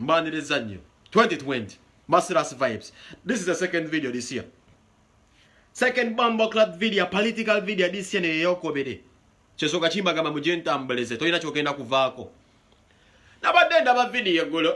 mbaniriza nnyo 2020 masterclass vibes this is the second video this year second bumble club video political video this year neyeyokobere kyesoka kimbagamba mujentambuleze tolina kyogenda kuvaako nabadde ndaba video eggulo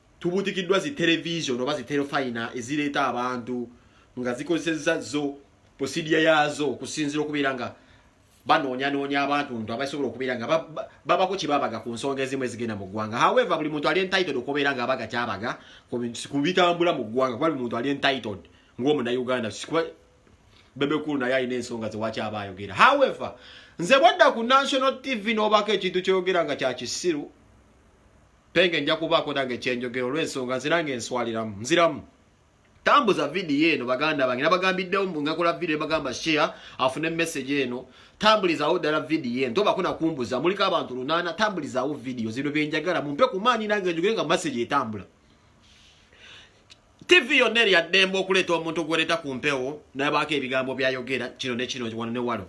tubutikiddwa zi television oba zi telefayina ezireeta abantu nga zikozesezza zo posidiya yaazo okusinzira okubeera nga banoonyanoonya abantu ntu abasobola okubeera nga babako kyebabaga ku nsonga ezimu ezigenda mu ggwanga however buli muntu ali entitled okubeera nga abaga kyabaga ku bitambula mu ggwanga kuba buli muntu ali entitled ng'omunauganda bebekulu naye alina ensonga zewaki aba ayogera however nze bwadda ku national tv n'obaako ekintu kyoyogera nga kyakisiru penge nja kubaako nange kyenjogera olw'ensonga nze nange nswaliramu nziramu tambuza vidiyo eno baganda bange nabagambiddewo mbu ngakola vidiyo nebagamba share afune message eno tambulizawo ddala vidiyo eno tobako nakumbuza muliko abantu lunaana tambulizawo vidiyo zino byenjagala mumpe ku maanyi nange njogere nga message etambula tivi yonna eri addembe okuleeta omuntu gwereta ku mpewo nabaako ebigambo byayogera kino nekino wano newalo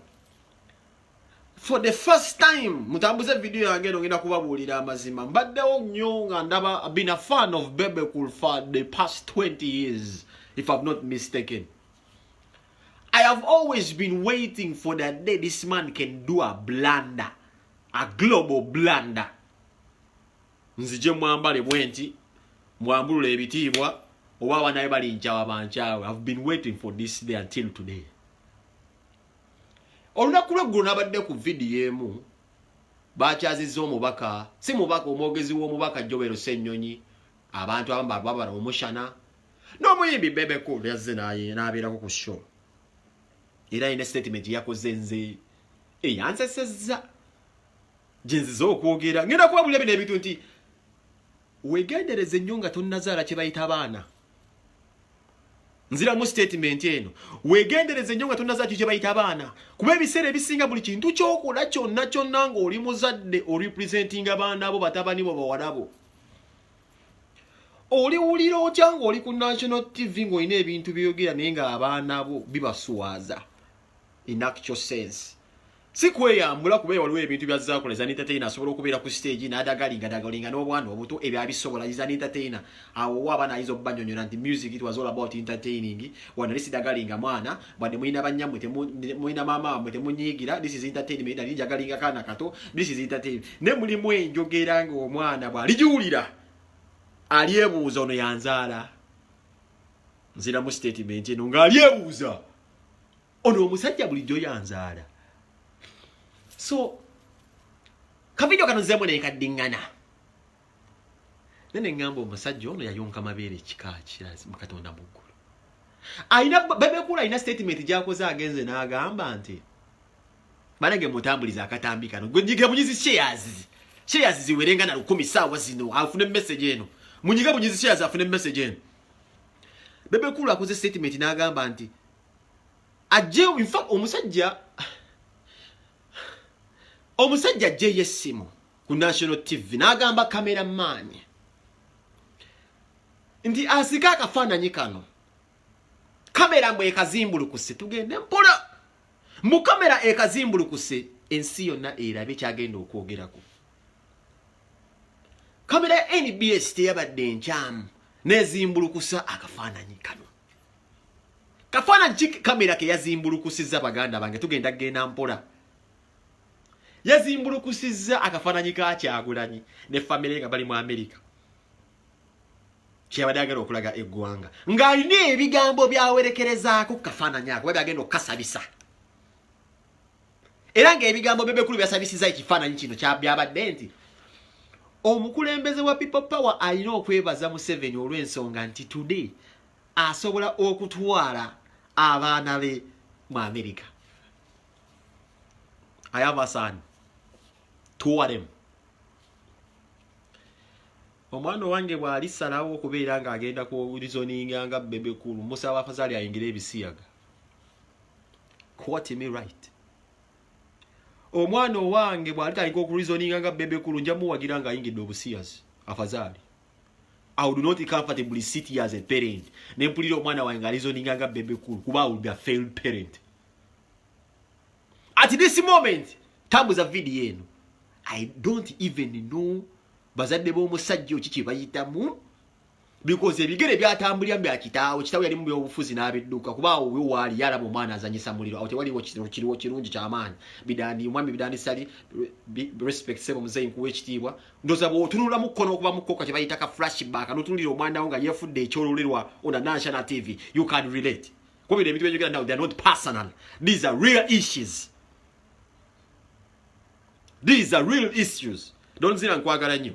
for the first time mutambuze video yange eno ngenda kubabuulira amazima mbaddewo nnyo nga ndaba been a fan of bebe cool for the past 20 years if i'm not mistaken i have always been waiting for the day this man can do a blunder a global blunder nzije mwambale bwenti mwambulule ebitiibwa oba abanaye balinjawa banjawe i've been waiting for this day until today olunaku lweggulo nabadde ku vidiyo emu bakyazizza omubaka si mubaka omwogezi w'omubaka jobero sennyonyi abantu abamu bababala omushana n'omuyimbi bebeku yazze n'abeerako ku show era yina statement yakoze nze eyansesezza gyenziza okwogera ngenda kubabulira bino ebintu nti wegendereze nnyo nga tonazaala kyebayita baana nziramu sitatimenti eno wegendereze nnyo nga tonna zakyo kyebayita abaana kuba ebiseera ebisinga buli kintu kyokola kyonna kyonna ngaoli muzadde orepresentinga abaana bo batabani bo bawalabo oliwulira otya ngaoli ku national tv ngaolina ebintu byoyogera naye nga abaana bo bibaswaza in actual sense si kweyambula kuba waliwo ebintu bya zakula za entertainer asobola okubeera ku stage n'adagalinga dagalinga n'obwana obuto ebyo abisobola is an entertainer awo wa abaana ayinza okubanyonyola nti music it was all about entertaining wano lisi dagalinga mwana bwadde mulina banyammwe mulina maama wamwe temunyiigira this is entertainment nali njagalinga kaana kato this is entertainment ne mulimu enjogera ng'omwana bw'aligiwulira alyebuuza ono yanzaala nziramu statement eno ng'alyebuuza ono omusajja bulijjo yanzaala so kavidio kano nzemu nekaddiŋŋana nene ŋŋamba omusajja ono yayonka mabeere ekika kirazi mukatonda muggulu alina bebekula alina statement gyakoze agenze n'agamba nti banange mutambuliza akatambi kano gwenyiga bunyizi shares shares ziwerenga na lukumi saawa zino afune message eno munyiga bunyizi shares afune message eno Bebe Cool akoze statement n'agamba nti ajje in fact omusajja omusajja ajje yessimu ku national tv n'agamba camera man nti asika akafaananyi kano kamera mbu ekazimbulukuse tugende mpola mu kamera ekazimbulukuse ensi yonna erabe kyagenda okwogerako kamera ya nbs teyabadde enkyamu nezimbulukusa akafaananyi kano kafaananyi ki kamera keyazimbulukusizza baganda bange tugenda kgenda mpola yazimbulukusizza akafaananyi ka kyagulanyi ne famire nga bali mu amerika kyeyabadde agenda okulaga eggwanga ng'alina ebigambo byawerekerezaako ku kafaananyi ako babi agenda okukasabisa era ng'ebigambo bebekulu byasabisiza ekifaananyi kino kyabyabadde nti omukulembeze wa people power alina okwebaza museveni olw'ensonga nti today asobola okutwala abaana be mu amerika ayavasaani tuwaremu omwana owange bw'alisalawo okubeera ng'agenda ku rizoninga nga bebekulu musaba afazali ayingire ebisiyaga quote me right omwana owange bwali tayinka okureasoninga nga bebe kulu nja muwagira nga ayingidde obusiyazi afazaali I would not comfortably sit here as a parent ne mpulira omwana wange nga reasoninga nga bebe kulu kuba I would be a failed parent at this moment tambuza video eno I don't even know bazadde b'omusajja oki kye bayitamu because ebigere byatambulira bya kitaawe kitaawe yali mu byobufuzi n'abidduka kuba awo we waali yalaba omwana azanyisa muliro awo tewaliwo kiriwo kirungi kyamaanyi bidandi omwami bidandi sali respect sebo muzeyi nkuwa ekitiibwa ndoza bwotunulamu kko n'okuba mu kkoka kye bayita ka flashback notunulira omwana wo nga yefudde ekyolulerwa ona nansana tv you can relate kuba bino ebintu byenjogera now they are not personal these are real issues these are real issues donzira nkwagala nnyo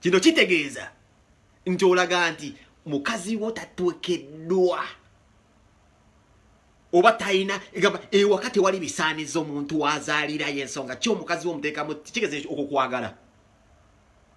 kino kitegeeza nti olaga nti mukazi wo tatwekeddwa oba talina egamba ewaka eh, tewali bisaaniza omuntu wazaalirayo ensonga ki omukazi wo omuteekamu kigeza okwo kwagala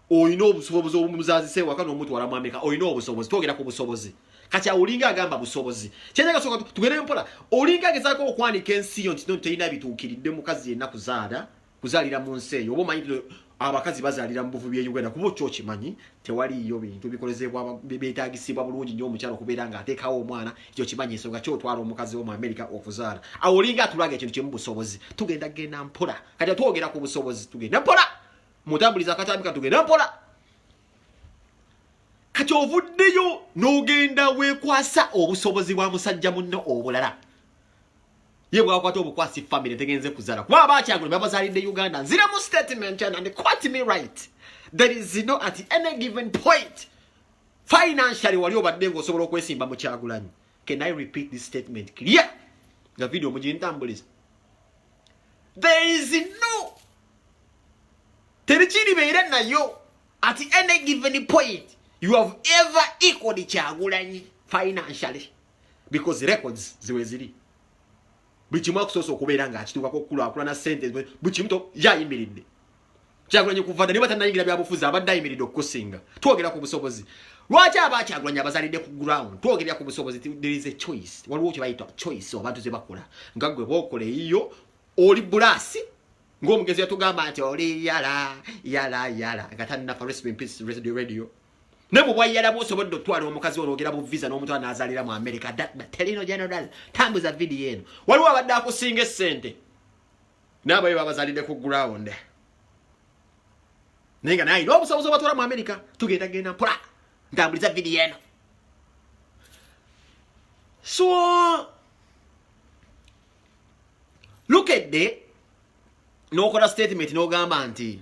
olina obusobozi obumuzazisa ewaka n'omutwala mwameka olina obusobozi twogera ku busobozi kati awo olinga agamba busobozi kyenagasoka tugere mpola olinga agezaako okwanika ensi yo nti no terina bituukiridde mukazi yenna kuzaala kuzalira mu nsi eyo oba omanyi abakazi bazalira mu buvubi e uganda kuba okyo okimanyi tewaliiyo bintu bikolezebwa betagisibwa bulungi nyo omukyalo okubeera nga ateekawo omwana ekyo kimanyi ensonga ki otwala omukazi wo mu amerika okuzaala awo olinga atulaga ekintu kimu busobozi tugenda genda mpola kati atwogera ku busobozi tugenda mpola mutambuliza akatambi katugenda mpola kati ovuddeyo n'ogenda wekwasa obusobozi bwa musajja munno obulala ye bwakwata obukwasi family tegenze kuzala kuba abakyagula babazalidde uganda nzira mu statement and, and quote me right there is no at any given point financially wali obadde ngaosobola okwesimba mu kyagulanyi can i repeat this statement clear nga video mugintambuliza there is no terikiribeera nayo at any given point you have ever equaled kyagulanyi financially because records ziwe ziri buli kimu akusoosa okubeera nga akituukako okukulakulana sente buli kimu yayimiridde kyagulanyi kuva dda niba tanayingira byabufuzi abadde ayimiridde okukusinga twogera ku busobozi lwaki aba kyagulanyi abazalidde ku ground twogerera ku busobozi there is a choice waliwo kyebayita choice abantu zebakola nga gwe bokola eyiyo oli bulaasi ng'omugenzi yatugamba nti oli yala yala yala nga tannafa recipe in peace radio ne bwe bwayala bwosobodde okutwala omukazi ono ogera bu visa n'omutwala n'azaalira mu amerika telino general tambuza vidiyo eno waliwo abadde akusinga essente naabayo babazalidde ku ground naye nga naye n'obusobozi obatwala mu amerika tugenda genda mpola ntambuliza vidiyo eno so lukedde n'okola statement n'ogamba nti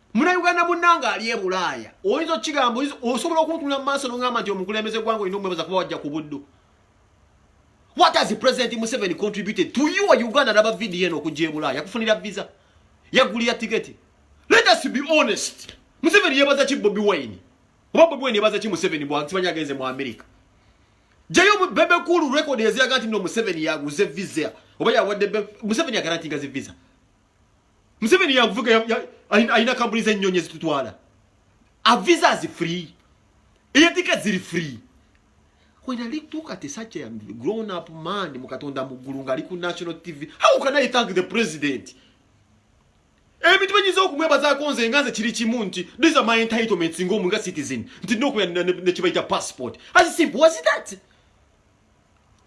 muna uganda munange ali e bulaaya oyinza okukigamba osobola okuntunula mu maaso nongamba nti omukulembeze gwanga olina omwebaza kuba wajja ku buddu what has president museveni contributed to you uganda naba vidiyo eno okujja e bulaaya yakufunira visa yagulira tiketi let us be honest museveni yebaza ki bobi wine oba bobi wine yebaza ki museveni bwakisibanya agenze mu amerika jayo bebe kulu rekodi eziraga nti no museveni yaguze visa oba yawadde museveni agarantinga zi visa Museveni yavuga alina kampuni z'ennyonyi ezitutwala aviza zi free eyatika ziri free when I look at such a grown up man mu Katonda mu ggulu ng'ali ku national TV how can I thank the president ebintu benyiza okumwebazaako nze nga nze kiri kimu nti these are my entitlements ng'omu nga citizen nti nokuya nekibayita passport as simple as that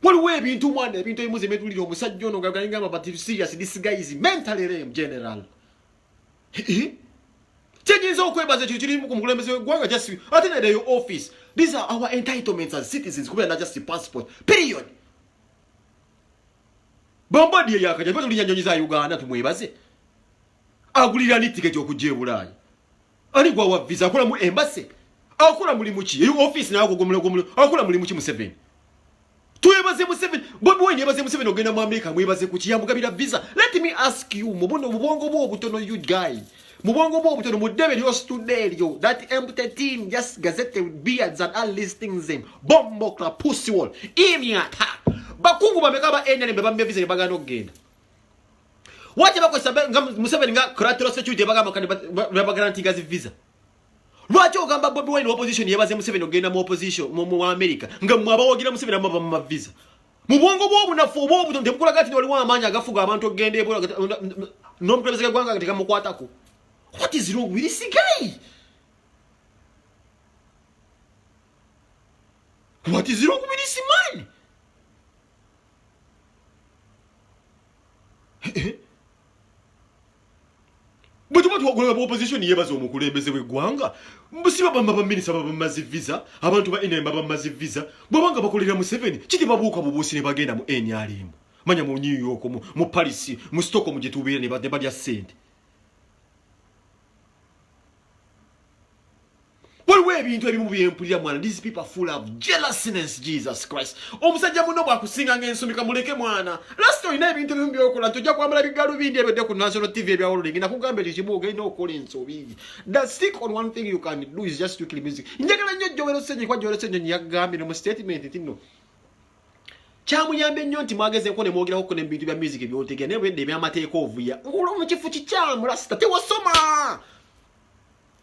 waliwo ebintu mwana ebintu ebimu zemetulira omusajja ono ngagangamba but if serious this guy is mentally lame general kyenyinza okwebaza ekyo kiri ku mukulembeze wegwanga just ate nede yo office these are our entitlements as citizens kubera na just passport period bombodi eyakaja tulinya nyonyi za uganda tumwebaze agulira ni tiketi okujja ebulaaya ani gwa wa visa akola mu embassy akola mulimu ki eyo office nayo agogomola gomola akola mulimu ki Museveni twebaze Museveni bobi wine yebaze Museveni ogenda mu America mwebaze ku kiyamugabira visa let me ask you mubuno mubongo bwo obutono you guy mubongo bwo obutono mu debe lyo stude lyo that empty team just gazette beards and all these things them bombo club pussy wall imyata bakungu bameka ba NNB bambe visa ne bagano genda Waje bakozesa nga Museveni nga collateral security bagamba kani babagarantee gazi visa. Lwaki ogamba Bobi Wine opposition yebaze Museveni ogenda mu opposition mu mu America nga mwabawogira Museveni amaba mu visa. Mu bwongo bw'obunafu obw'obuto tebukulaga nti waliwo amaanyi agafuga abantu okugenda ebola n'omukulembeze gw'eggwanga tegamukwatako. What is wrong with this guy? What is wrong with this man? bwetuba twagulaba mu opposition yebaza omukulembeze weggwanga siba bamba baminisa babamazi visa abantu ba nm babamazi visa bwebanga bakolera museveni kiti babuuka bubuusi ne bagenda mu nrm manya mu new york mu paris mu stockholm gyetubeera ne balya sente waliwo ebintu ebimu byempulira mwana these people are full of jealousness jesus christ omusajja muno bwakusinga nga ensumika muleke mwana last olina ebintu ebimu byokola nti ojja kwambala bigalubindi ebedde ku national tv ebyawololingi nakugamba ekyo kimu ogenda okukola ensobi the stick on one thing you can do is just strictly music njagala nnyo jowero senyi kwa jowero senyi yagambye ne mu statement nti no kyamuyambye nnyo nti mwagezeeko ne mwogerako ku nebintu bya music byotegera naye bwedde ebyamateeka ovuya ngula mu kifo kikyamu lasita tewasoma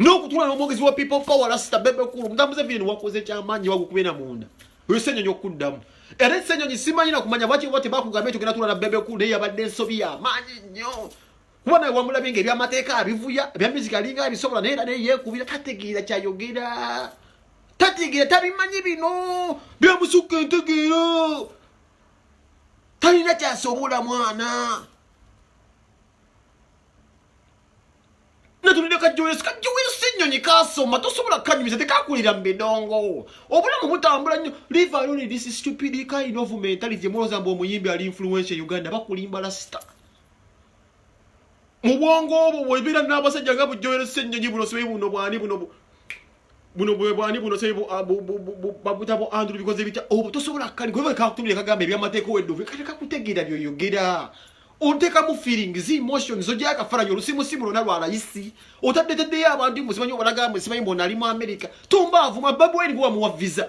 n'okutula n'omwogezi wa people power lasita bebe kulu mutambuze vini wakoze kyamaanyi wagukubena munda oyosenyonyi okuddamu era esenyonyi simanyi nakumanya lwaki oba tebakugamba ekyo genatula na bebe kulu naye yabadde ensobi yamaanyi nnyo kuba naye wamulabye nga ebyamateeka abivuya ebya miziki alinga abisobola naye era naye yekubira tategeera kyayogera tategeera tabimanyi bino byamusukka entegeera talina kyasobola mwana natunulira kajjoyesi kajjoyesi ennyonyi kasoma tosobola kukanyumiza tekakulira mu bidongo obulamu butambula nnyo live alone this stupid kind of mentality muloza mbu omuyimbi ali influensia uganda bakulimba lasita mu bwongo obwo bwebeera n'abasajja nga bujjoyeresa ennyonyi buno sibe buno bwani buno buno bwe bwani buno sey bu ah, babuta bu andrew bikoze bitya obu oh, tosobola kali gwe ka kutumira kagamba ebya mateka wedo ve kali kakutegera byo yogera onteka mu feeling zi emotions zo jaka fara yo lusimu simu lona lwa raisi otadde tadde ya abantu musimanyo balaga musimanyo mbona ali mu america tumba avuma babu eri kwa mu visa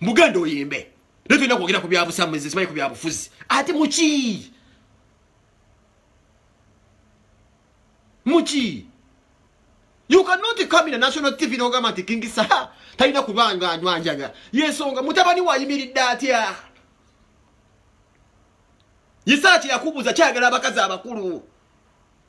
mugenda oyimbe naye tulina kwogera ku byabusamuzi simanyi ku byabufuzi ate muki muki you cannot come in a national tv nogamba nti kingi saha talina kubanga anwanjaga yensonga mutabani wayimiridde atya yisaaki yakubuza kyagala abakazi abakulu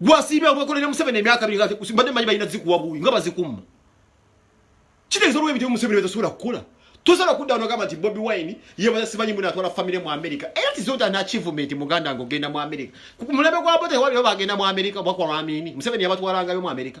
gwasiibya obwekolera museveni emyaka biri mbadde manyi balina zikuwa buwi nga bazikumma kitegeeza olwo ebityo museveni betasobola kukola tosobola kudda nogamba nti bobi wine yebaza simanyi muna atwala famire mu amerika era tizota na achievement muganda nga ogenda mu amerika mulembe gwa bote waliwo bagenda mu amerika oba kwa lwamiini museveni yabatwalangayo mu amerika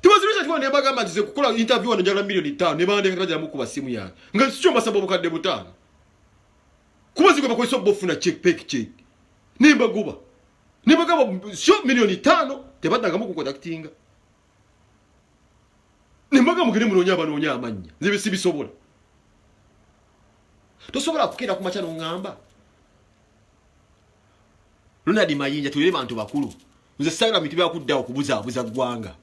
Tibazirusha twa ne bagamba nti kukola interview wano njala milioni 5 ne bande kati bajamu kuba simu yange. Nga sicho masabo bukadde butano. Kuba zigwe bakoiso bofuna check pek check. Ne baguba. Ne bagamba sio milioni 5 tebadaga mu kukontaktinga. Ne mbaga mugire munonya abanonya amanya. Zibe sibisobola. Tosobola kukira ku machano ngamba. Luna di mayinja tuyire bantu bakulu. nze saira mitu byakuddawo kubuzaabuza ggwanga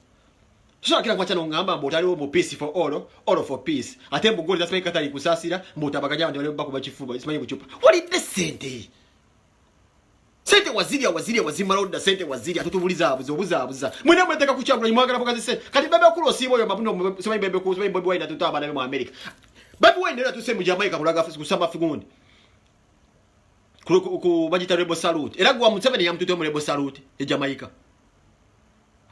soakira nkwaca nongamba mbu otaliwo mu peace for all all for peace ate mbu goli zasimanyi katali kusasira mbu otabaganya abantu bali bakuba kifuba simanyi bucupa walidde sente sente wazirya wazirya wazimala odda sente wazirya totubulizaabuza obuzaabuza mwena mweteka kukyagula imwagala bugazi sente kati bebe kulu osiiba oyo mabuno simanyi bebe kulu simanyi bobi wine atuta abana be mu america bebe wine era tuse mu jamaica kulaga kusama figundi ku bagita rebo salute era gwa museveni yamutute mu rebo salute e jamaica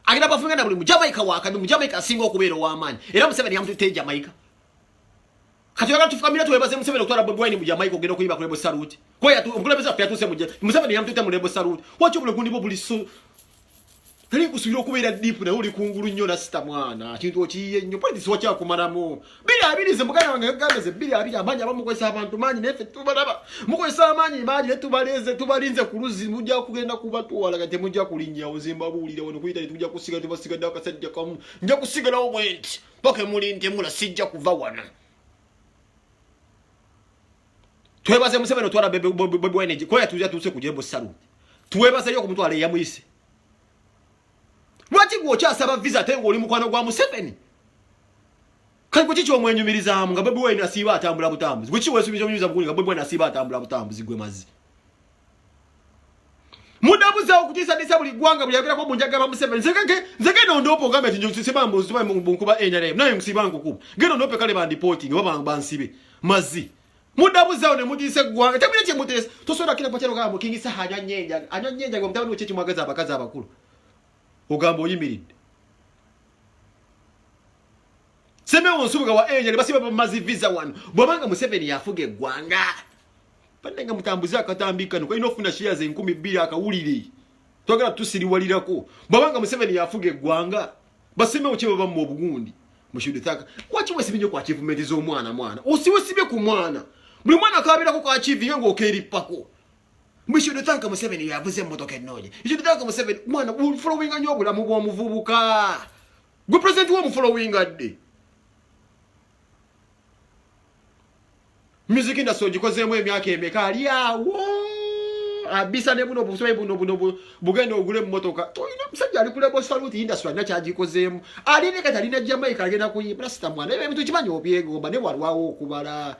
agenda bafunga na buli mu jamaica wakati mu jamaica asinga okubeera ow'amaanyi era museveni yamutute e jamaica kati wala tufukamira twebaze museveni okutwala bobi wine mu jamaica ogenda okuyiba ku rebo salute kweyaomukulembeze waffe yatuuse mu museveni yamutute mu rebo salute waki obulagundi bwo buli Tali kusuubira okubeera deep naye oli kungulu nnyo nasita mwana kintu okiyiye nnyo politics wakyakumalamu biri abiri ze muganda wange gamba ze biri abiri amaanyi aba mukozesa abantu maanyi naye ffe tubalaba mukozesa amaanyi maanyi naye tubaleeze tubalinze ku luzzi mujja kugenda kubatwala nga temujja kulinnyawo nze mbabuulira wano kuyita ne tujja kusigala tubasigadde akasajja kamu nja kusigalawo bwenti paka muli ntemula sijja kuva wano twebaze museveni otwala bebweneji kuba yatuza tuse kuje mu saluni twebaze yo kumutwala eyamuyise lwaki gwe okyasaba visa ate ng'oli mukwano gwa museveni kati gweki kyomwenyumirizaamu nga bebwene asiiba atambula butambuzi gweki wesubiza onyumiza mukuni nga bebwene asiiba atambula butambuzi gwe mazi mudabuza okutiisatiisa buli ggwanga buli yagerako mu njagala museveni nze genda ondoopa ogambye ti nsiba mbuziba munkuba nrm naye nsiba nkukuba genda ondoope kale bandipootingi oba bansibe mazzi mudabuzawo ne mutiisa eggwanga temulina kye muteesa tosobola kira pakyalo gamba mukingi saha anywa nnyo enjaga anywa nnyo enjaga omutabani wekyo kimwagaza abakazi abakulu ogamba oyimiridde Semewo Nsubuga wa Angel basiba bamazi visa wano bwabanga Museveni yafuga eggwanga badde nga mutambuze akatambi kano kalina okufuna shares enkumi bbiri akawulire twagala tusiriwalirako bwabanga Museveni yafuga eggwanga basemewo kye baba mu obugundi mushudithaka waki wesibye nyo ku achievement z'omwana mwana osiwesibye ku mwana buli mwana akabeerako ku achieving ng'okeerippako we should thank Museveni yavuze emmotoka ennoonya you should thank Museveni mwana following nnyo obulamu bw'omuvubuka gwe president wo mufolowinga ddi music industry ogikozeemu emyaka emeka ali awo abisa ne buno busobe buno buno bugenda ogule mmotoka tolina musajja ali kulebo saluti industry alina kyagikozeemu ali ne kati alina jamaica agenda kuyimba sita mwana ebyo ebintu kimanyi obyegomba ne walwawo okubala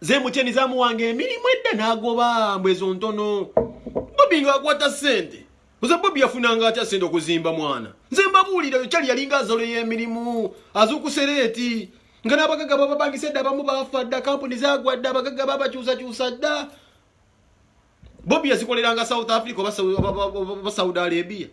ze mukyeni zamuwanga emirimu edda nagoba mbwezo ntono bobi nga akwata sente nze bobi yafunanga atya sente okuzimba mwana nze mbabuulira yokyali yalinga azolo yemirimu azukusereeti nga nabagaga bababangisa edda abamu bafa dda kampuni zagwa dda abagaga babakyusakyusa dda bobi yazikoleranga south africa oba saudi arabia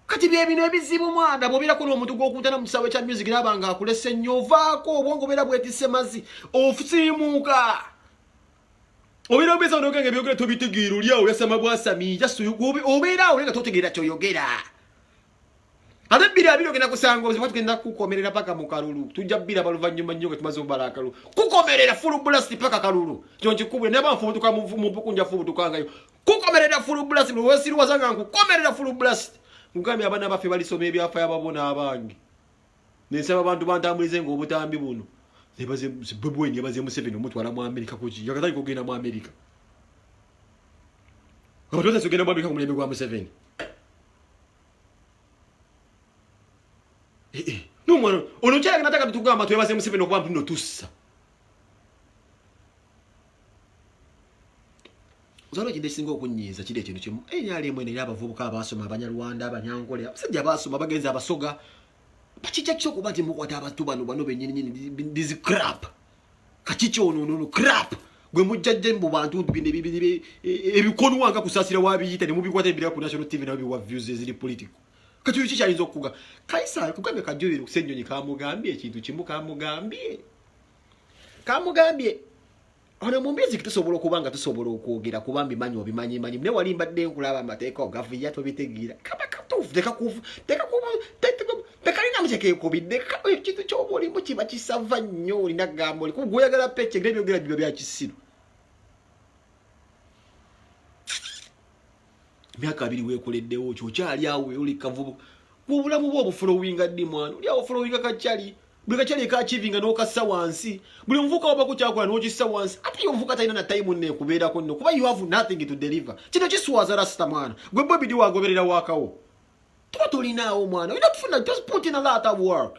kati byebino ebizibu mwanda bwobeerako n'omuntu gwokuntana mu kisaawe kya music naaba nga akulese nnyo ovaako obwongo obeera bwetise mazi ofusiimuuka obeera obeeza noga nga ebyogera tobitegeera oli awo yasama bwasami obeera awo nga totegeera kyoyogera ate bbiri abiri ogenda kusanga obuzibu tugenda kukomerera paka mu kalulu tujja bbiri abaluvannyuma nnyo nga tumaze obala akalulu kukomerera fulu bulasiti paka kalulu kyonkikubule naye banfubutuka mu bukunja fubutukangayo kukomerera full blast no wesiru wazanga ngu komerera full blast mugambi abana bafe bali some bya fire babona abangi ne saba bantu bantambulize ngo obutambi buno ne baze bubwe ne baze museveni omuntu ala mu america kuji yakatali kugenda mu america abantu bose kugenda mu america kumulembe gwa museveni eh eh no mwana ono chaka nataka tutugamba twebaze museveni okuba mpuno tussa zalo kide singo kunyiza kide kino kimu enye eh, ali mwene yaba vubuka abasoma abanyarwanda abanyangole abasajja abasoma bagenza abasoga bachicha kyo kuba timu kwa taba tuba no bano benyini nyini this crap kachicho ono ono crap gwe mujjajje mbu bantu bine bibine ebikonu wanga kusasira wabiyita ne mubikwata ebira ku national tv na biwa views zili political Kati kiki kyayinza okuga? Kaisari kugambye kajulire kusennyonyi kamugambye ekintu kimu kamugambye. Kamugambye ono mu mbizi tusobola okuba nga tusobola okwogera kuba mbimanyi obimanyi manyi naye wali mbadde nkulaba amateeka ogavuya tobitegeera kaba katuufu tekakuvu tekakuvu tekalina mukyekekubidde ekintu kyoba olimu kiba kisava nnyo olina gamba oli kuba gwoyagala pece ngebyogera biba byakisiru myaka abiri wekoleddewo kyokyali awo oli kavubu kubulamu bwo obufolowinga ddi mwana oli awo folowinga kakyali buli kakyali ekachivinga nokassa wansi buli omuvuka wabako kyakola nokissa wansi ate yomuvuka talina na time nne kubeerako nno kuba you have nothing to deliver kino kiswaza rasita mwana gwe bobi di wagoberera wakawo tuba tolinaawo mwana olina kufuna just put in a lot of work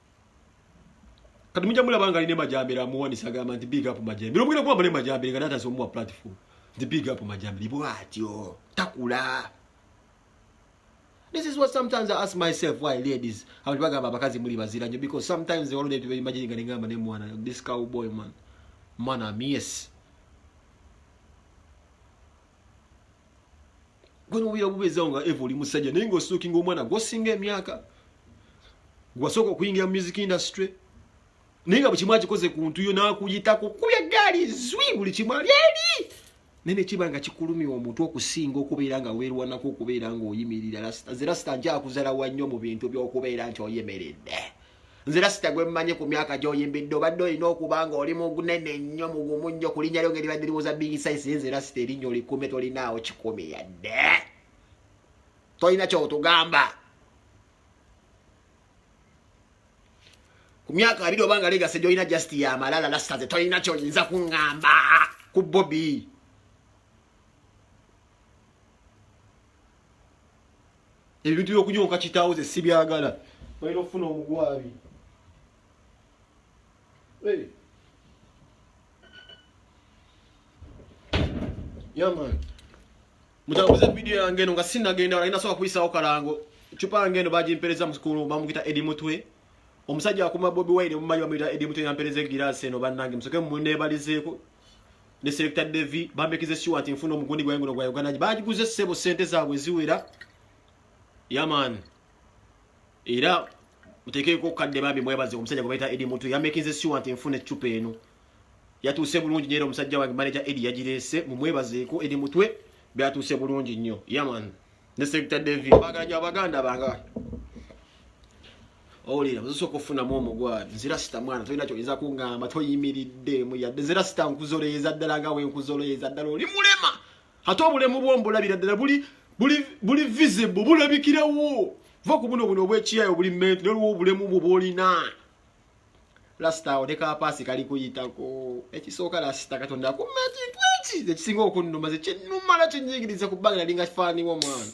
kati mujja mulaba nga alina emajambere amuwanisa agamba nti big up majambere omugenda kuba mune majambere nga natasa omuwa platform nti big up majambere bwatyo takula This is what sometimes I ask myself why ladies abantu bagamba abakazi muli bazira nyo because sometimes they already be imagine nga ningamba ne mwana this cowboy man man I'm yes gwe nobira bubezawo nga eva oli musajja naye nga ositukinga omwana gwosinga emyaka gwasooka okuyingira mu music industry naye nga bwekimu akikoze ku ntuyo nakuyitako kubya gaali zwi buli kimu ali eri naye nekiba nga kikulumya omuntu okusinga okubeera nga weerwanako okubeera nga oyimirira zerasita njakuzala wannyo mu bintu byokubeera nti oyimiride nze lasita gwe mmanyi ku myaka gy'oyimbidde obadde olina okuba nga oli mugunene nnyo mugumu nnyo ku linnya lyo nga eribadde riwoza bigi saisi ye nze lasita erinnya olikume tolinaawo kikumi yadde tolina kyotugamba ku myaka abiri oba nga legase gyolina just yamalala lasita ze tolina kyoyinza kuŋŋamba ku bobi ebintu byokunyonka kitaawo ze sibyagala balina okufuna omugwabi yaman mutambuze vidiyo yange eno nga sinagenda wala inasobola kuyisawo kalango cupa yange eno bagimpereza mukulu bamukita edi mutwe omusajja akuma bobi wine omumanyi bamuyita edi mutwe yampereza egiraasi eno bannange musoke munebalizeeko ne selecta devi bambekize siwa nti nfuna omugundi gwange guno gwa uganda bagiguze ssebo sente zaabwe eziwera yaman era mutekeeko kadde bambi mwebaze omusajja gwe bayita edi mutu yamekinze siwa nti nfuna eccupa eno yatuuse bulungi nyeera omusajja wange manaja edi yagireese mumwebazeeko edi mutwe byatuuse bulungi nnyo yaman ne selecta devi bagala nyo abaganda banga owulira ozosooka okufunamu omugwaabi nzira sita mwana tolina kyoyinza kungamba toyimiriddemu yadde nzira sita nkuzoleeza ddala nga wenkuzoleeza ddala oli mulema ate obulemu bwombulabira ddala buli visible bulabikirawo va ku buno buno obwekiyayo buli menti noliwo obulemu bwo bwolina lasita awo nekapaasi kali kuyitako ekisooka lasita katonda akumakintu eki ekisinga okunnuma zekinumala kinyigiriza ku bbanga nalinga kifaaniwo mwana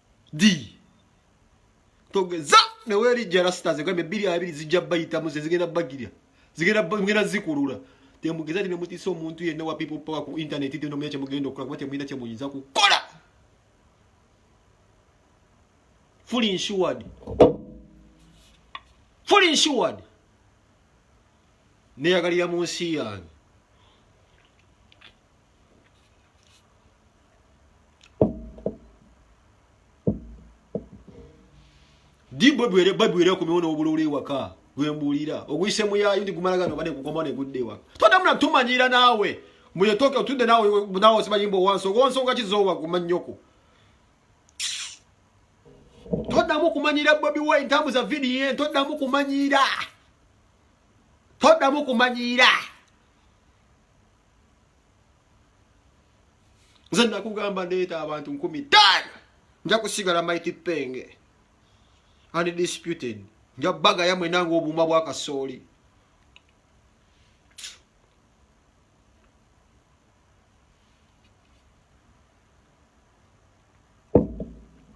di togeza newerijja rasita ze kwembe biri abiri zijja bayitamu ze zigenda bagirya zigenda mugenda zikulula temugeza ati nemutisa omuntu yenna wa people power ku internet tino muyina kyemugenda okukola kuba temuyina kyemuyinza kukola fully insured fully insured neyagalira mu nsi yange dibwe bwere babwere ku miwono obulule waka gwembulira ogwise muyayo ndi kumala gano bane kukoma ne gudde waka tonda muna tumanyira nawe muye toke otude nawe nawe sibayimbo wanso gonso nga kizowa kumanyoko tonda mu kumanyira bobi wa intamu za video tonda mu kumanyira tonda mu kumanyira nze nakugamba ndeeta abantu nkumi taano nja kusigala maiti penge undisputed nja baga yamwe nange obuuma bwakasooli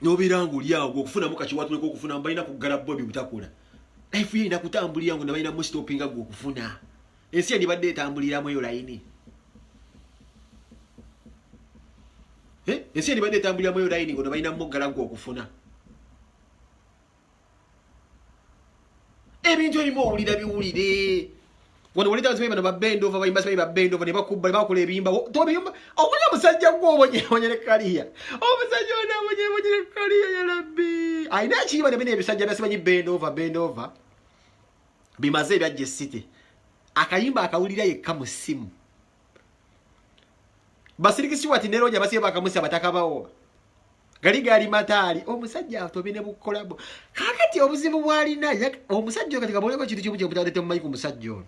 nobera nga oli awo okufunamu kakiwatuleka okufunamu balina kuggala bo ebyo bitakola life ye erina kutambulira ngo nebalina mustopinga gwe okufuna ensi endibadde etambuliramu eyo layini eh? ensi endibadde etambuliramu eyo layini ngo nebalina muggala gwe okufuna ebintu ebimu owulira biwulire wano wali tazibe bano babendova bayimba sibayi babendova ne bakubba ne bakola ebiyimba tobiyumba obulya musajja gwe obonyebonye ne kaliya omusajja ono abonyebonye ne kaliya ya rabbi alina ekiyiba ne bino ebisajja byasimanyi bendova bendova bimaze ebyajja esite akayimba akawulira yekka mu ssimu Basiriki Stewart ne Roger basiye bakamusi abataka bawo. Gali gali matali omusajja atobi ne bukolabo. Kakati obuzibu bwali na yak omusajja katika bole ko kitu kimu kyo butadete mu mayiku omusajja ono.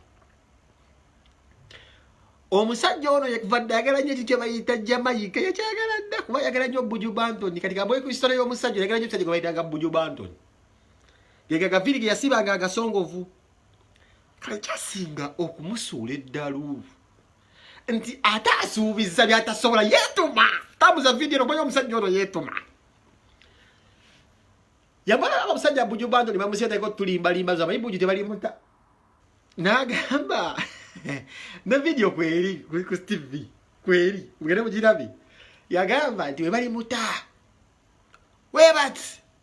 Omusajja ono yakvadde agala nyo kikyo bayita Jamaica yakyagala dda kuba yagala nyo Buju Banton katika bole ko story y'omusajja yagala nyo kitaje bayita Buju Banton. Yega gaviri yasiba nga agasongovu. kale kyasinga okumusuula eddalu nti ate asuubiza byatasobola yeetuma tambuza vidiyo no manya omusajja ono yeetuma yamala abasajja buju bando ne bamuseetako tulimbalimba zo abayi buju tebalimuta n'agamba ne vidiyo kweri kuli ku tv kweri mugende mugirabi yagamba nti webalimuta webati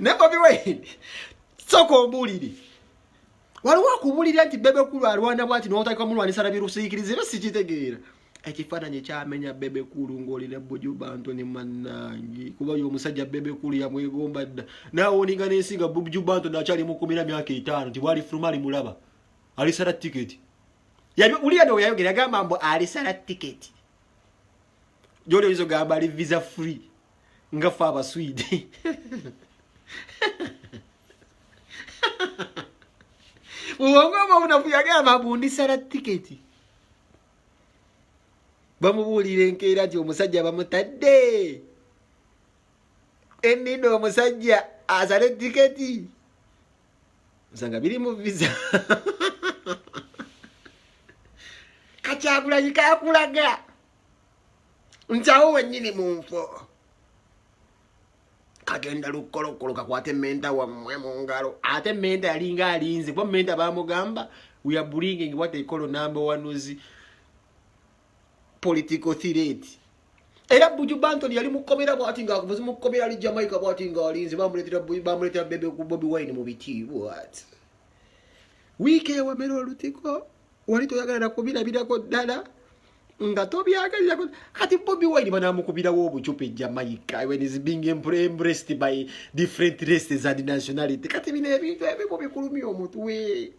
naye bobi wine soka ombulire waliwo akubulira nti bebe kulu alwana bwati notakika mulwanisa nabirusiikiriza era sikitegeera ekifaananyi kyamenya bebe kulu ng'oli ne buju bantu ne mannangi kuba yo omusajja bebe kulu yamwegomba dda naawe oninga n'ensi nga buju bantu nakyali mukumira myaka etaano nti bwali fuluma alimulaba alisala tiketi uliya no yayogera yagamba mbu alisala tiketi gyoli oyinza ogamba ali visa free nga ffe abaswidi muwongoma bunafu yagamba bundisala tiketi bamubuulira enkeera nti omusajja bamutadde enina omusajja asale tiketi nsanga biri mu visa kakyagulanyi kakulaga nti awo wennyini mu nfo kagenda lukkolokolo kakwate menta wammwe mu ngalo ate menta yalinga alinze kuba menta bamugamba weabringing wat ekolo number one's political thiret era buju banton yali mukomera bwati nga akuvuzi mukomera ali jamaica bwati nga alinze bamuletera bebe ku bobi wine mu bitiibwat wiiki ewamera olutiko wali toyagala nakubirabirako ddala nga tobyagalirako kati bobi wine banamukubirawo obucupa ejamaica when is being embraced by different races and nationality kati bino ebintu ebimu bikulumya omutwe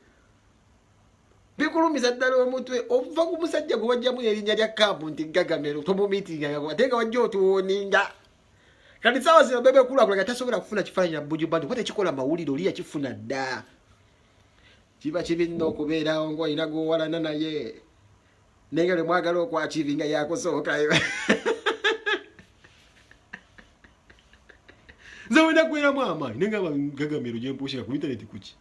bikulumiza ddala omutwe ova ku musajja gwe wajjamu erinnya lya kampu nti gagamero tomumitingagako ate nga wajja otuwoninga kati sawa zino bebe kulakula nga tasobola kufuna kifaananyi na bujubanti kuba tekikola mawulire oli yakifuna dda kiba kibi nno okubeerawo ngaolina gwowalana naye naye nga lemwagala okwakibi nga yakusooka nze wenda kubeeramu amaanyi naye nga gagamiro gyempuusika ku intaneti kuki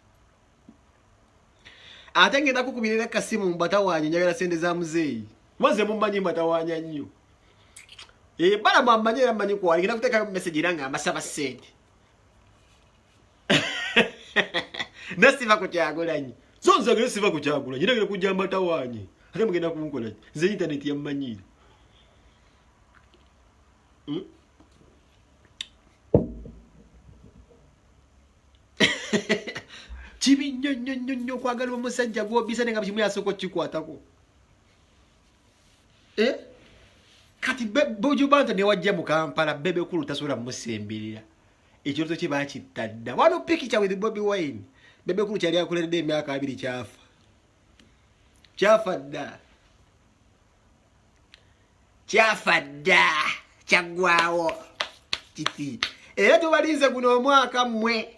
ate ngenda kukubirira kasimu mbatawanya njagala sente za muzeeyi maze mumanyi mbatawanya nnyo ebala eh, mwamanyi era manyi kwali ngenda kutekayo mumesegi era nga mbasaba sente nasiva ku kyagulanyi so nze agere siva ku kyagulanyi era agere kujja mbatawaanye ate mugenda kunkola nze intaneti yammanyiira hmm? kibi nnyo nnyo nnyo nnyo okwagala omusajja gwobisa ne nga kimu yasooka okukikwatako eh? kati bujubanta newajja mu kampala bebekulu tasobola musemberera Ekirooto kye baakitta dda. Wano pikica with Bobi Wine. Bebe Kulu kyali akuleredde emyaka abiri kyafa. Kyafa dda. Kyafa dda. Kyaggwawo. Kiti. Era tubalinze guno omwaka mmwe.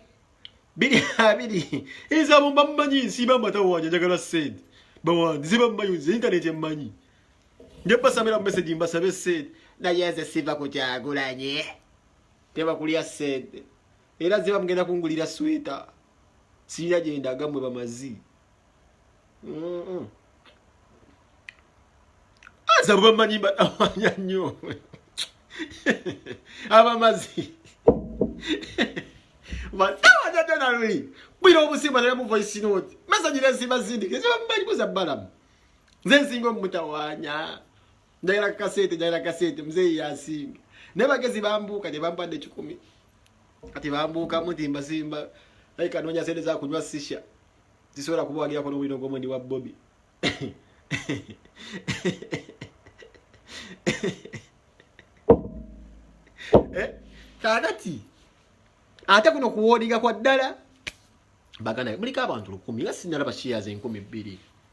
Biri abiri. Inza abumba mmanyi nsiba amata wanja njagala sente. Bawandi ziba mmanyi nze intaneti emmanyi. Nje basamira mu message mbasabe sente. Naye nze siva ku Kyagulanyi. teba kulya sente era ziba mugenda kungulira sweta sirina gyendaga mwe bamazi aza bamanyi batawanya nnyo abamazi batawanyadanaluyi bwira obusimba naye mu voice note mesanyira ensimba zindike zibamumanyi kuza balamu nze nsinga omumutawanya njagala kukasente njagala kukasente muzeeyi yasinga naye bagezi bambuuka ne bampadde kikumi kati bambuukamu nti mbasimba ayi kanoonya sente zakunywa sisha zisobola kubawagirako n'obulino gw'omwendi wa bobi eh, kakati ate kuno kuwoodiga kwa ddala bagana muliko abantu lukumi nga sinalaba shiyazi enkumi bbiri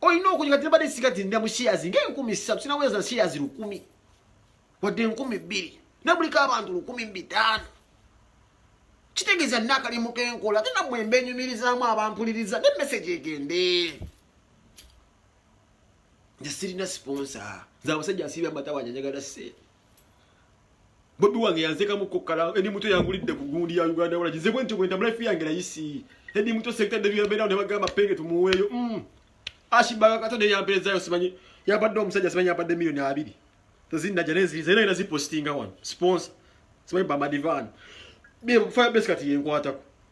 olina okuja kati nabadde sika ti nda mushiyazi ngaenkumi ssatu sinaweza nshiyazi lukumi wadde enkumi bbiri nabuliko abantu lukumi bitaano kitegeeza nina akalimu kenkola ate namwe mbenyumirizaamu abampuliriza ne meseji egende nze sirina siponsa nze abasajja nsiiba amatawanyanjagala sente Bobi wange yanzeka mu kokala eni muto yangulidde ku gundi ya Uganda wala jize bwenti bwenti mula fiya ngela yisi eni muto sekta de yabera ndo bagamba penge tumuweyo mm ashi baga kato de yampeza yo simanyi yabadde omusajja simanyi yabadde milioni abiri tozinda janezi zera ina zipostinga wan sponsor simanyi bamba divan bi fire base kati yenkwata ko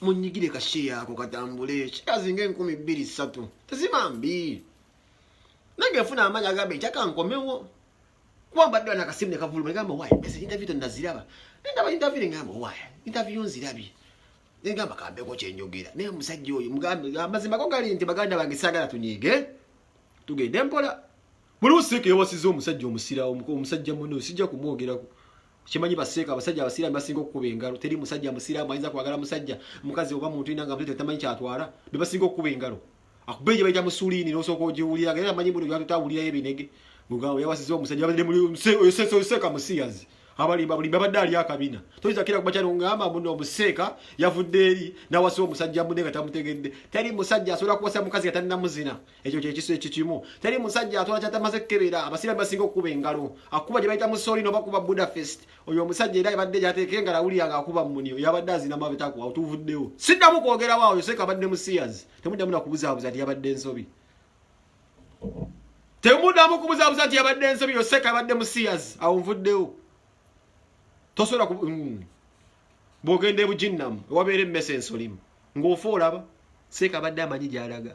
munyigire kasheya ako katambule kikazi nga enkumi bbiri ssatu tezima mbi nange nfuna amaanyi agamba ekyaka nkomewo kuba mbadde wana akasimu ne kavuluma egamba owaaye mese intaviyu tonnaziraba nendaba intaviyu nengamba owaaye intaviyu nzirabye nengamba kambeko kyenjogera naye omusajja oyo amazima go gali nti baganda bange saagala tunyiige tugende mpola buli usiika yewasiza omusajja omusirawo omusajja mune sijja kumwogerako kimanyi baseeka abasajja abasiraamu basinga okukuba engalo teri musajja musiraamu ayinza kwagala musajja mukazi oba muntu ina nga mutete tamanyi kyatwala be basinga okukuba engalo akuba egye bayita musuliini n'osooka ogiwulira nga era amanyi muno byatutawulirayo ebinege mugambo yawasiza omusajja abadde muliseeka musiyazi abalimba bulimba abadde ali akabina toyinza kira kuba kyalo ngamba muno omuseeka yavudde eri nawasa omusajja munne nga tamutegedde teri musajja asobola kuwasa mukazi nga talinamuzina ekyo kyekiso ekikimu teri musajja atwala kyatamaze kukebera abasiraamu basinga okukuba engalo akuba gye bayita musoli nobakuba budafest oyo omusajja era ebadde gyateeka engalo awulira nga akuba muni oyo abadde azina mabitaku awutuvuddewo siddamu kwogerawo awo yoseeka abadde musiyazi temuddamu nakubuzaabuza nti yabadde ensobi temuddamu kubuzaabuza nti yabadde ensobi yoseeka abadde musiyazi awo nvuddewo tosobola mm. bwogenda ebujinnamu ewabeera emmese ensolimu ng'ofa olaba seeka abadde amanyi gyalaga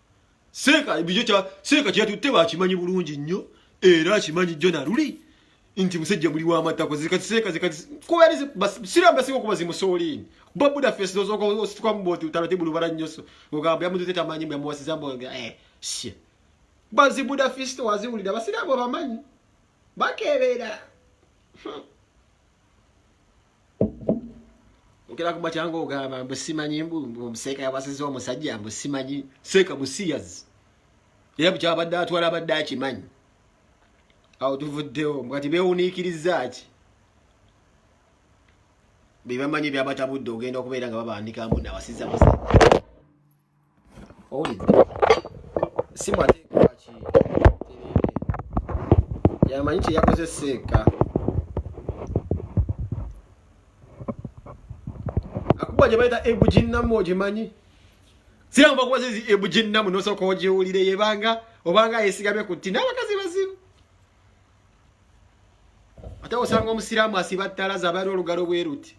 seeka bijo kya seeka kya tutte bakimanyi bulungi nnyo era akimanyi jjo na luli nti musajja muli wa matako zika seeka zika kuba yali sira mbasiko kuba zimusoolini babuda face dozo ko osituka mboti utalate bulu bara nyoso ogamba yamutu teta manyi mwe mwasiza mbo eh shit bazi buda face to wazi ulida basira bo bamanyi bakebera hmm. okera ku matyanga ogamba mbu simanyi mbu omuseeka yawasiza omusajja mbu simanyi seeka musiyazi era bukyabadde atwala abadde akimanyi awo tuvuddewo mukati bewuniikiriza ki bebamanyi byabatabudde ogenda okubeera nga babandika mbu nawasiza musajja owulidde simu ate kwaki yamanyi kyeyakozesa eka akuba gye bayita ebujinnamu ogimanyi siramu bakuba zizi ebujinnamu nosooka ogiwulire yebanga obanga yesigamye ku tti n'abakazi bazibu ate osanga omusiraamu asiba ttala zabaali olugalo bweruti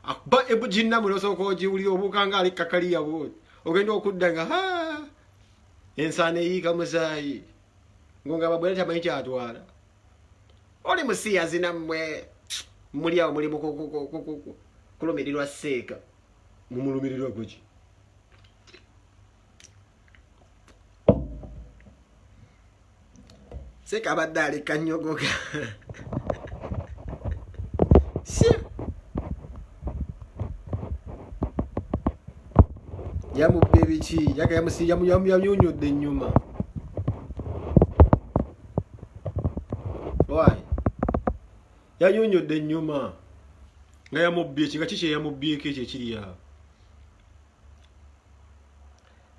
akuba ebujinna muno sooka ogiwulira obuuka nga ali kakaliya bwoti ogenda okudda nga ha ensaana eyiika musaayi ngo nga babwera tamanyi kyatwala oli musiyazi nammwe muli awo muli mukulumirirwa seeka mumulumirirwa kuki seka abadde aleka nyogoga yamubba ebiki yamuyunyudde enyuma yayunyudde enyuma nga yamubbye ki nga kiki eyamubbyeko ekyo ekiri awo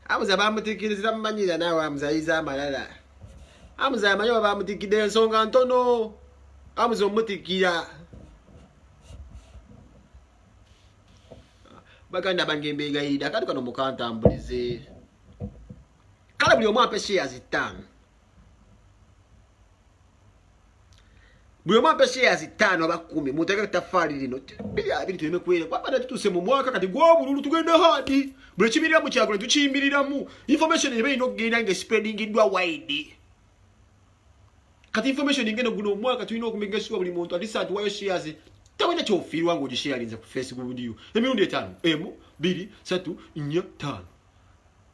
Amuza bamutikirizira mumanyira naawe amuza ayiza amalala amuza amanyi oba bamutikidde ensonga ntono amuza omutikira baganda bange mbegayirira kati kano mukantambulize kale buli omu ampe shares ttaano buli omu ampe sheyazi ttaano aba kkumi muteeka ettafaali lino biri abiri tuleme kwere kwabadde tutuuse mu mwaka kati gw'obululu tugenda haadi buli ekimirira mu kyagula tukiyimiriramu information eba erina okugenda nga espreadingiddwa wide kati information ngeno guno omwaka tulina okumegesibwa buli muntu atisa atuwayo sheyazi tawena kyofiirwa ngaogisheyalinze ku facebook video emirundi etaano emu biri satu nnya ttaano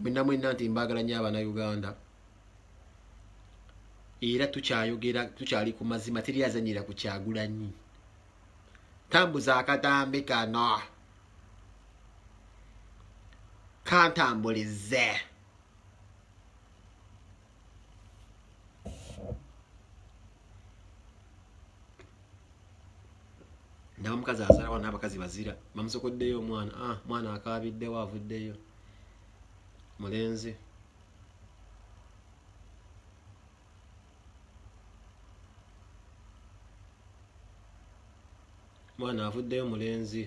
mwena mwena nti mbagala nyo abana uganda era tukyayogera tukyali ku mazima teri azanyira ku kyagulanyi tambuza akatambi kano kantambulize ndaba omukazi azalawa n'abakazi bazira bamusokoddeyo omwana ah, mwana akaabiddewo avuddeyo mulenzi mwana avuddeyo mulenzi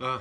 ah,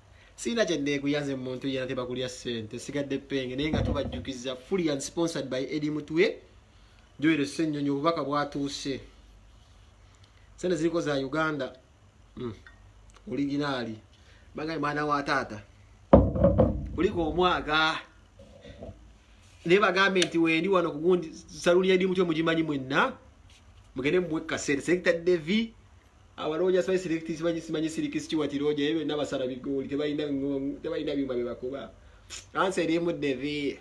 Sina kya neguya nze muntu yena teba kulya sente sigadde penge naye nga tubajjukiza fully and sponsored by Eddie Mutwe Joel Senyonyo obubaka bwatuuse Sente ziliko za Uganda mm. Originali Banga mwana wa tata Kuliko omwaga Neba gambe nti wendi wano kugundi saluni Eddie Mutwe mujimanyi mwenna Mugende mwekka sente Sekta Devi abalooja simanyi selekti simanyi simanyi siriki sikiwati looja ebyo byonna basala bigooli tebalina ngong tebalina byuma bye bakuba ansi erimu devi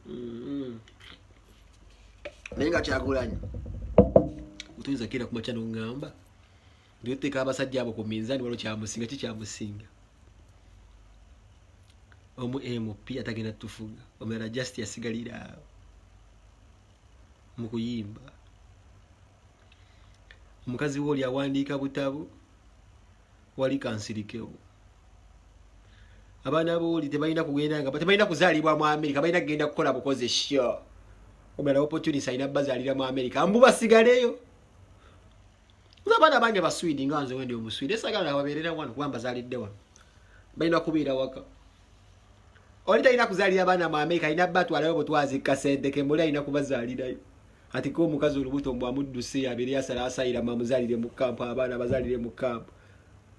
mm-hmm. naye nga kyagulanyi mutuyinza kera kumakya nongamba ndioteeka abasajja abo ku minzani waliwo kyamusinga ki kyamusinga omu mp atagenda tufuga omulala just yasigalira mukuyimba omukazi wooli awandiika butabu wali kansirikewo abaana booli tebalina kugenda nga tebalina kuzaalibwa mu amerika balina kugenda kukola bukozi sho omulala opportunity alina bazaalira mu amerika mbu basigaleyo nze abaana bange baswidi nga nze wendi omuswidi esagala babeerera wano kuba mbazaalidde wano balina kubeera waka oli talina kuzaalira abaana mu amerika alina batwalayo butwazi kasente kemuli alina kubazaalirayo ati ko omukazi olubuto mbu amudduse abeere yasala asayira mamuzalire mu kampu abaana bazalire mu kampu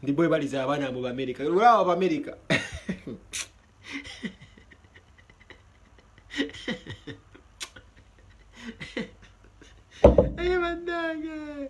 ndi bwe baliza abaana mu bamerika olaba bamerika Hey, my dog.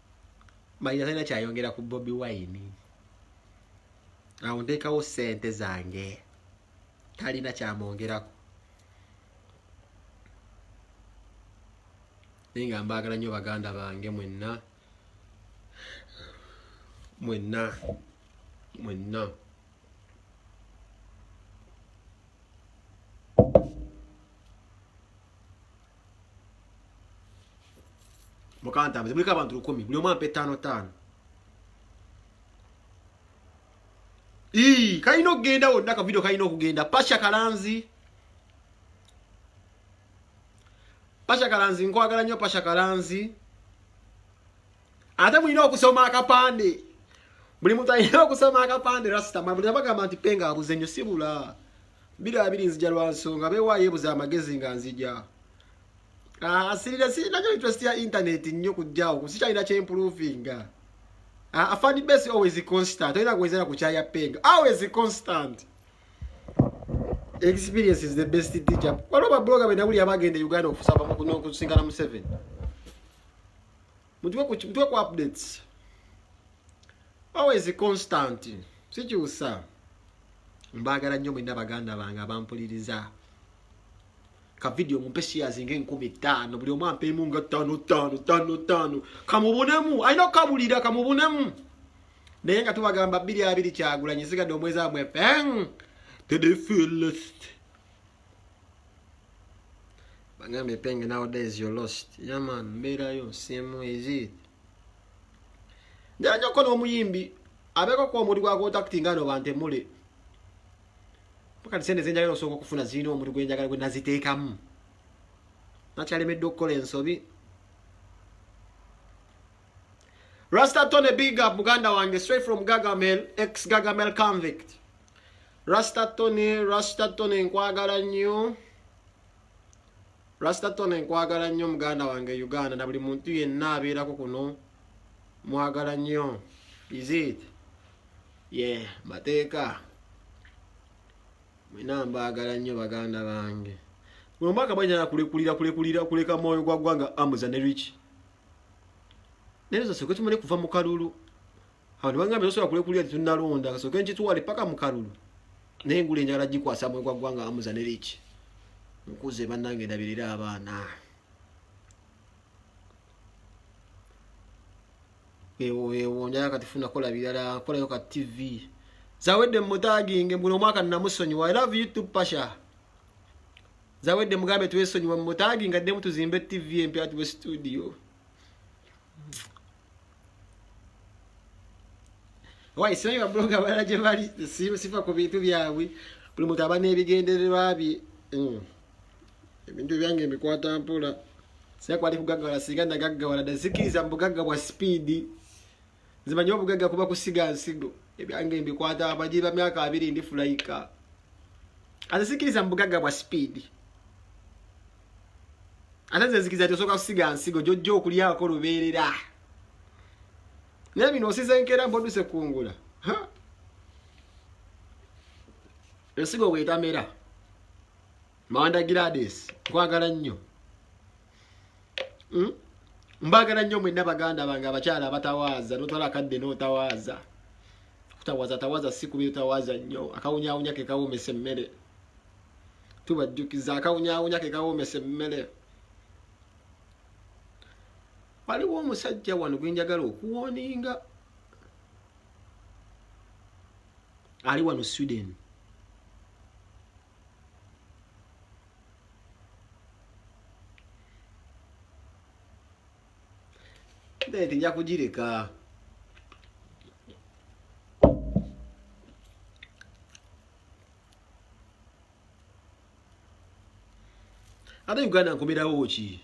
mayina talina kyayongera ku bobi wine awo nteekawo sente zange talina kyamwongerako naye nga mbaagala nnyo baganda bange mwenna mwenna mwenna mukantambuze muliko abantu lukumi buli omu ampe taano taano ii kalina okugenda wonna kavidio kalina okugenda pasha kalanzi pasha kalanzi nkwagala nnyo pasha kalanzi ate mulina okusoma akapande buli muntu alina okusoma akapande rasita mabuli abagamba nti penga abuze nnyo sibula Bira abiri nzija lwa nsonga bewa yebuza amagezi nga nzija. Ah, asirira si nanyo interest ya internet nnyo kujjawo kusikyalina kye improving. Ah, afani base always constant. Oyina kuwezera ku chaya peng. Always constant. Experience is the best teacher. Walo ba blogger bena buli abagenda Uganda okusaba mu kuno kusingana mu 7. mutwe ku mutwe ku updates always constant sikyusa mbaagala nnyo mwena baganda bange abampuliriza ka video mumpe shares nga enkumi ttaano buli omu ampeemu nga ttaano ttaano ttaano ttaano kamubunemu alina okukabulira kamubunemu naye nga tubagamba bbiri abiri kyagulanyi sigadde omwezi amwe peng to the fullest bangambye penge nowadays you're lost yaman mbeerayo simu ezit njanja okukola omuyimbi abeeko kuba omuntu gwakontakti nga no bantemule pakati sente zenjagala osooka okufuna zirina omuntu gwenjagala gwe naziteekamu nakyalemeddwa okukola ensobi Rasta Tony Big Up, Muganda Wange, straight from Gagamel, ex Gagamel convict. Rasta Tony, Rasta Tony nkwagala nnyo. Rasta Tony nkwagala nnyo muganda wange Uganda na buli muntu yenna abeerako kuno mwagala nnyo. Is it? Yeah, mateeka. Mwena mbaagala nnyo baganda bange. Mwe mwaka banyala kulekulira kulekulira kuleka mwoyo gwa gwanga amuza ne rich. Nero zose kwetumale kuva mu kalulu. abantu bangambye tosobola kulekulira tetunalonda kasooke nkitwale paka mu kalulu naye engula enjagala gikwasa mwe gwa ggwanga amuza ne liki nkuze bannange ndabirira abaana ewo ewo njala kati funa kola birala kolayo ka tv zawedde mumutaginge mbuno omwaka namusonyiwa i love you to pasha zawedde mugambe twesonyiwa mumutaginga ddemu tuzimbe tv empya tube studio wayi simanyi babuloga balala gye bali sifa ku bintu byabwe buli muntu aba n'ebigendererwa bye hmm. ebintu byange ebikwata mpola sira kwali kugaggawala singa nagaggawala dazikiriza mu bugagga bwa sipiidi nzimanyi obugagga kuba kusiga nsigo ebyange mbikwata abagiri ba myaka abiri ndi fulayika azizikiriza mu bugagga bwa sipiidi ate nze nzikiza nti osooka kusiga nsigo gyojja okulyako lubeerera naye bino osize nkeera mpodduse kungula ensigo bwetamera mawanda gilades nkwagala nnyo hmm? mbagala nnyo mwenna baganda bange abakyala abatawaaza notwala akadde notawaaza kutawaza tawaza si kubi utawaza nnyo akawunyawunya kekawomesa emmere tubajjukiza akawunyawunya ke kawomesa emmere waliwo omusajja wano gwenjagala okuwoninga ali wano sweden nti nja kugireka ate uganda nkomerawo ki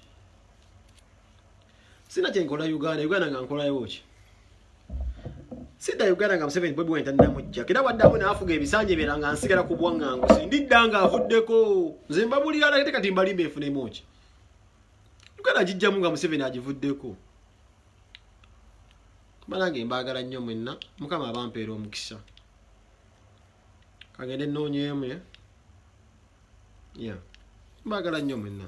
sina kyenkola uganda uganda nga nkolayo ki sidda uganda nga museveni bobi wine talinamujja era waddamu naafuga ebisanja ebyera nga nsigala ku bwaŋŋangusi ndidda nga avuddeko nze mbabulira lagete kati mbalimba enfunemu ki uganda gijjamu nga museveni agivuddeko banange mbaagala nnyo mwenna mukama abampeera omukisa kagende noonyeemu ya mbagala nnyo mwenna